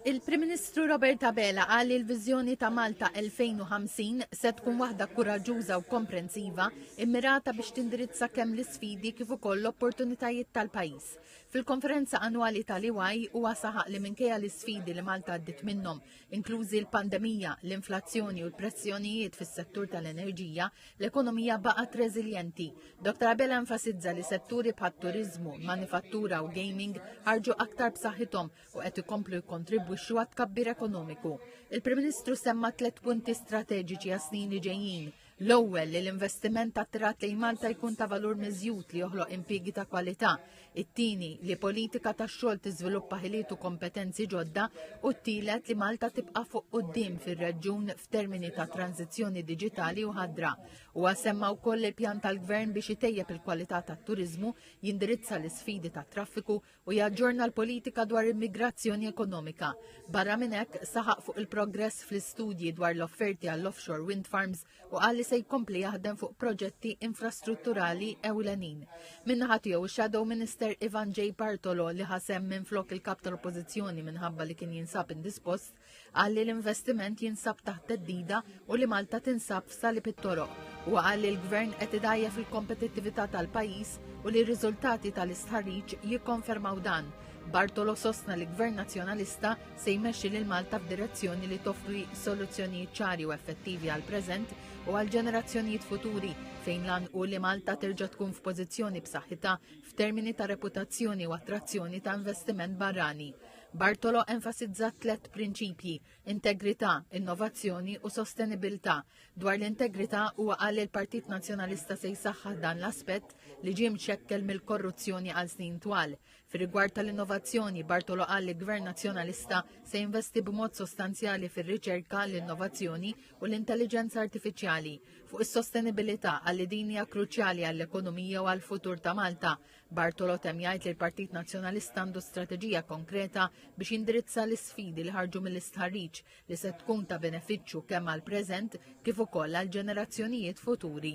Il-Prim Ministru Robert Abela qal li l-viżjoni ta' Malta 2050 se tkun waħda kuraġġuża u komprensiva immirata biex tindirizza kemm l-isfidi kif ukoll l-opportunitajiet tal-pajjiż. Fil-konferenza annwali tal-EY huwa saħaq li minkejja l-isfidi li Malta għaddiet minnhom inklużi l-pandemija, l-inflazzjoni u l-pressjonijiet fis-settur tal-enerġija, l-ekonomija baqgħet reżiljenti. Dr. Abela enfasizza li setturi bħat turiżmu, manifattura u gaming ħarġu aktar b'saħħithom u qed ikomplu jikkontribwixxu għat-tkabbir ekonomiku. Il-Prim Ministru semma tliet punti strateġiċi għas-snin li ġejjin, L-ewwel li l-investiment ta' trat lejn Malta jkun ta' valur miżjud li joħloq impjiegi ta' kwalità. It-tieni li politika ta' xogħol tiżviluppa ħiliet u kompetenzi ġodda u t-tielet li Malta tibqa' fuq quddiem fir-reġjun f'termini ta' tranzizzjoni diġitali u ħadra. U għasemma wkoll il-pjan tal-gvern biex itejjeb il-kwalità tat-turiżmu, jindirizza l-isfidi tat-traffiku u jaġġorna l-politika dwar immigrazzjoni ekonomika. Barra minn hekk, saħaq fuq il-progress fl-istudji dwar l-offerti għall-offshore wind farms u qal li se jkompli jaħdem fuq proġetti infrastrutturali ewlenin. Minnaħa tiegħu shadow Minister Ivan J. Bartolo li ħasem minn flok il-kap tal-Oppożizzjoni minħabba li kien jinsab indispost, Qal li l-investiment jinsab taħt teddida u li Malta tinsab f'salib it-toroq. Huwa qal li l-Gvern qed idajjef il-kompetittività tal-pajjiż u li r-riżultati tal-istħarriġ jikkonfermaw dan. Bartolo sostna li Gvern Nazzjonalista se jmexxi lil Malta f'direzzjoni li toffri soluzzjonijiet ċari u effettivi għall-preżent u għall-ġenerazzjonijiet futuri fejn lan u li Malta terġa' tkun f'pożizzjoni b'saħħitha f'termini ta' reputazzjoni u attrazzjoni ta' investiment barrani. Bartolo enfasizza tliet prinċipji, integrità, innovazzjoni u sostenibilità. Dwar l-integrità huwa qal li l-Partit Nazzjonalista se jsaħħaħ dan l-aspett li ġie mxekkel mill-korruzzjoni għal snin twal. Fir-rigward tal-innovazzjoni, Bartolo qal li Gvern Nazzjonalista se jinvesti b'mod sostanzjali fir-riċerka, l-innovazzjoni u l-intelliġenza artifiċjali. Fuq is-sostenibilità qal li din hija kruċjali għall-ekonomija u għall-futur ta' Malta. Bartolo temm jgħid li l-Partit Nazzjonalista għandu strateġija konkreta biex jindirizza l-isfidi li ħarġu mill-istħarriġ li se tkun ta' benefiċċju kemm għall-preżent kif ukoll għall-ġenerazzjonijiet futuri.